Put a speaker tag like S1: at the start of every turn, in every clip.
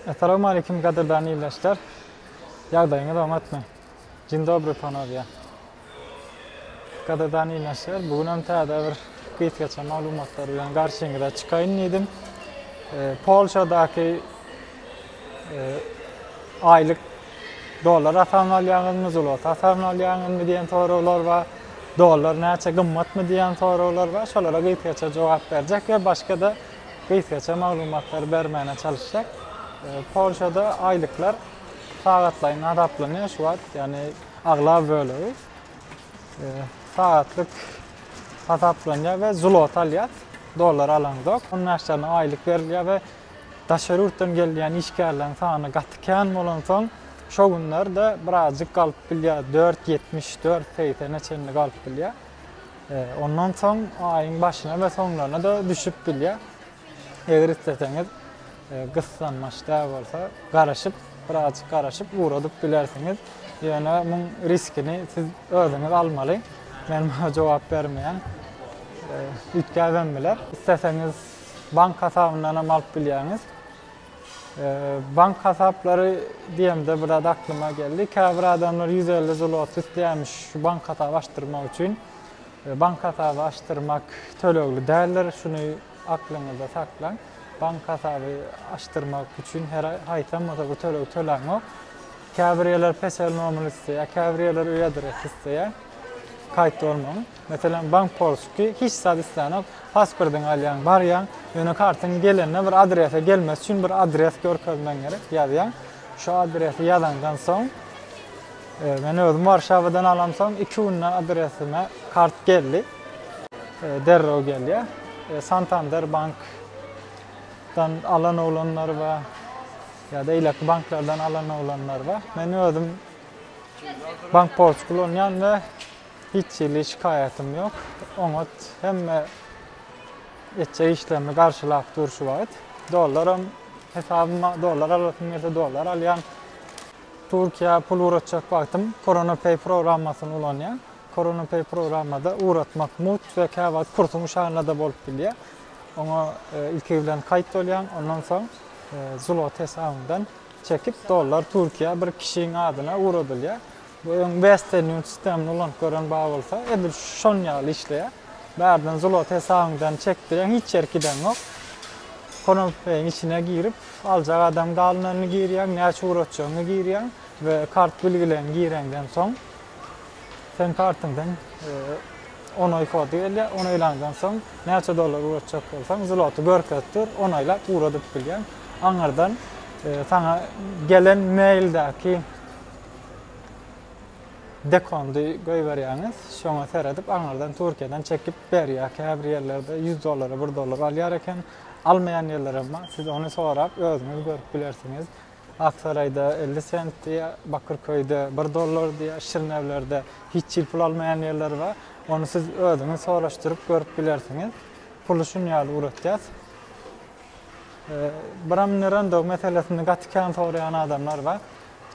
S1: Essalawmaleýkim gadyrdan ildeşler. Ýagdaýyňyz oňatmy? Dzień dobry panowýa. Gadyrdan ildeşler, bu günem täze bir gysgaça maglumatlar bilen garşyňyza çykaýyn diýdim. Polşadaky aýlyk dollar hasabyn alýaňyzmy, zloty hasabyn alýaňyzmy diýen soraglar bar. Dollar näçe gymmatmy diýen soraglar bar. Şolara gysgaça jogap berjek we başga-da gysgaça maglumatlary bermäne çalyşjak. E, Polşada aýlyklar sagatlaýyn hasaplanýar şu wagt, ýagny aglaba bölegi e, sagatlyk hasaplanýar we zlot alýar, dollar alaňzok. Ondan aşagyna aýlyk berilýär we daşary ýurtdan gelýän işgärleriň sany gaty kän bolansoň, şo günler-de birazjyk galyp bilýär, 4.70, 4.80-e çenli galyp bilýär. Ondan soň aýyň başyna we soňlaryna-da düşüp bilýär. Eger isleseňiz, gyssanmaç däl bolsa, garaşyp, birazajyk garaşyp, ugradyp bilersiňiz. Ýöne muň riskini siz özüňiz almaly. Men muňa jogap bermeýän. Üýtgäbem biler. Isleseňiz, bank hasabyndanam alyp bilýäňiz. Bank hasaplary diýemde bir zat aklyma geldi. Käbir adamlar 150 zlot isleýärmiş şu bank hasaby açdyrmak üçin. E, bank hasaby açdyrmak tölegli däldir. Şuny aklyňyzda saklaň. Bank hasaby açdyrmak üçin her haýsam bolsa bir töleg töläňok. Käbir ýerler peşel nomer isleýär, käbir ýerler öý adresi isleýär. Kaýt olmaň. Meselem, bank porsky hiç zat islänok, pasportyňy alýaň, barýaň, ýöne kartyň gelende bir adrese gelmesi üçin bir adres görkezmegiň gerek, ýazýaň. Şu adresi ýazaňdan soň, men özüm Warşawadan alamsoň iki günde adresime kart geldi. Derrew gelýär. Santander bankdan alan oglanlar bar, ýa-da eýleki banklardan alan oglanlar bar. Men özüm bank porsky ulanýan we Hiç hili şikaýatym ýok. Oňat hemme etjek işlerimi garşylap dur şu wagt. Dollaram hesabyma dollar alasym gelse dollar alýan. Türkiýä pul ugratjak wagtym CoronaPay programmasyny ulanýan. CoronaPay programmada ugratmak mugt we käwagt kursuň şanyna-da bolup bilýär. Oňa ilki bilen kaýt bolýan, ondan soň zlot hesabymdan çekip dollar Türkiýä bir kişiň adyna ugradylýar. Bu öň Western Union sistemini ulanyp gören bar bolsa, edil şonuň ýaly işleýär. Bärden zlot hesabyňdan çekdirýäň, hiç ýere gideňok. Konopbeýiň içine girip, aljak adam galynanyny girýäň, näçe ugratjagyňy girýäň we kart bilgileňi gireňden soň, seň kartyňdan onaý kod gelýär, onaýlandan soň, näçe dollar ugratjak bolsaň, zloty görkezip dur, onaýlap ugradyp bilýäň. Aňyrdan saňa gelen maildäki. Dekondy goýberýäňiz, şoňa seredip aňyrdan Türkiýeden çekip berýär. Käbir ýerlerde ýüz dollara bir dollar alýar eken. Almaýan ýerlerem bar. Siz ony sorap özüňiz görüp bilersiňiz. Aksaraýda elli sent diýýär, Bakyrköýde bir dollar diýýär, Şirnewlerde hiç hili pul almaýan ýerler bar. Ony siz özüňiz soraşdyryp görüp bilersiňiz. Puly şun ýaly ugratýas. Bramnirandog meselesini gaty kän soraýan adamlar bar.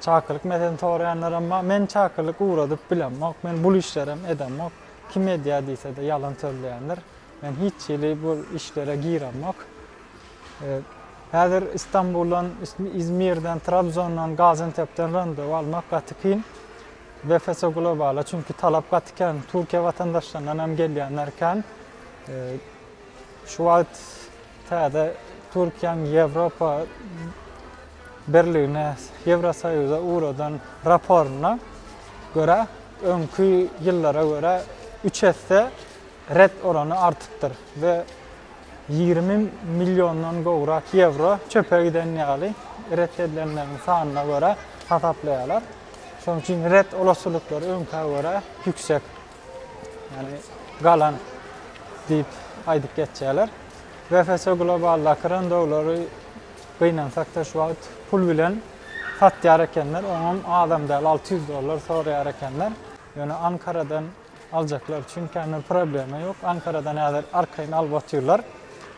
S1: Çakylyk meselesini soraýanlaram bar. Men çakylyk ugradyp bilemok. Men bul işlerem edemok. Kim edýär diýse-de ýalan sözleýändir. Men hiç hili bul işlere giremok. Häzir Istanbuldan, Izmirden, Trabzondan, Gazentepden randewu almak gaty kyn. BFS Globala çünki talap gaty kän. Türkiýe watandaşlaryndan hem gelýänler kän. Şu wagt täze Türkiýäň Ýewropa Birligine, Ýewrosoýuza ugradan raporyna görä, öňki ýyllara görä üç esse ret orany artypdyr we ýigrimi milliondan gowrak ýewro çöpe giden ýaly ret edilenleriň sanyna görä hasaplaýarlar. Şonuň üçin ret olasylyklar öňkä görä ýüksek. ýagny galan diýip aýdyp geçýärler. BFC Global-daky randowlary gynansak-da şu wagt pul bilen satýar ekenler, oňam azam däl, alty ýüz dollar soraýar ekenler. Ýöne Ankaradan aljaklar üçin känbir problema ýok. Ankaradan häzir arkaýyn alyp otyrlar.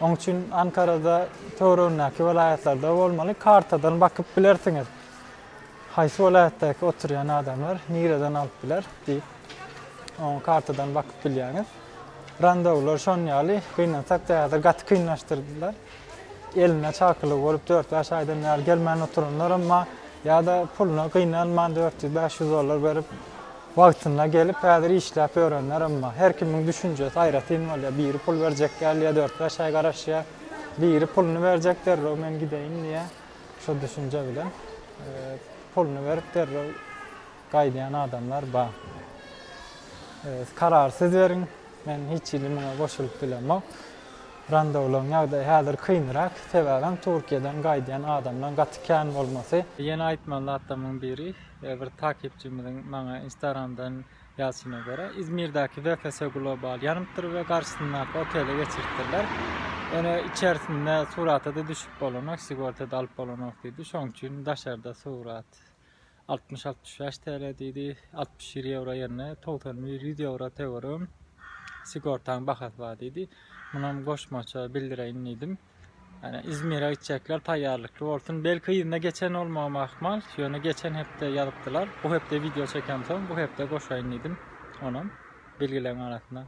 S1: Oň üçin Ankarada töweregindäki welaýatlarda bolmaly, kartadan bakyp bilersiňiz. Haýsy welaýatdaky oturýan adamlar nireden alyp biler diýip. Oňa kartadan bakyp bilýäňiz. Randewular şon ýaly, gynansak da häzir gaty kynlaşdyrdylar. Elinde çakylygy bolup dört-bäş aýdan bäri gelmän oturanlar emma ýa-da puluna gynanman dört ýüz, bäş ýüz dollar berip wagtynda gelip häzir işläp ýörenler emma her kimiň düşünjesi aýratyn bolýar. Biri pul berjek gelýär, dört-bäş aý garaşýar. Biri puluny berjek derrew men gideýin diýýär. Şo düşünje bilen puluny berip derrew Gaýdýan adamlar bar. Öz karary siz beriň. Men hiç hili muňa goşulyp bilemok. Randowlaryň ýagdaýy häzir kynrak. Sebäbem Turkiýadan gaýdýan adamlaryň gaty kän bolmasy. Ýene aýtmaly zatlarymyň biri, bir takipçimiziň maňa instagramdan ýazyşyna görä, Izmirdäki VFS Global ýanypdyr we garşysyndaky otele geçiripdirler. Ýöne içerisinde surata-da düşüp bolanok, sigorta-da alyp bolanok diýdi. Şonuň üçin daşarda surat Altmyş altmyş bäş TL diýdi. Altmyş bir ýewro ýerine togsan bir ýüz ýewro töwerim sigortaň bahasy bar diýdi. Munam goşmaça bildireýin diýdim. Ýani Izmire gitjekler taýýarlykly bolsun. Belki yzyna geçen bolmagym ahmal. Ýöne geçen hepde ýazypdylar. Bu hepde wideo çekämsoň bu hepde goşaýyn diýdim. Onam bilgileň arasyna.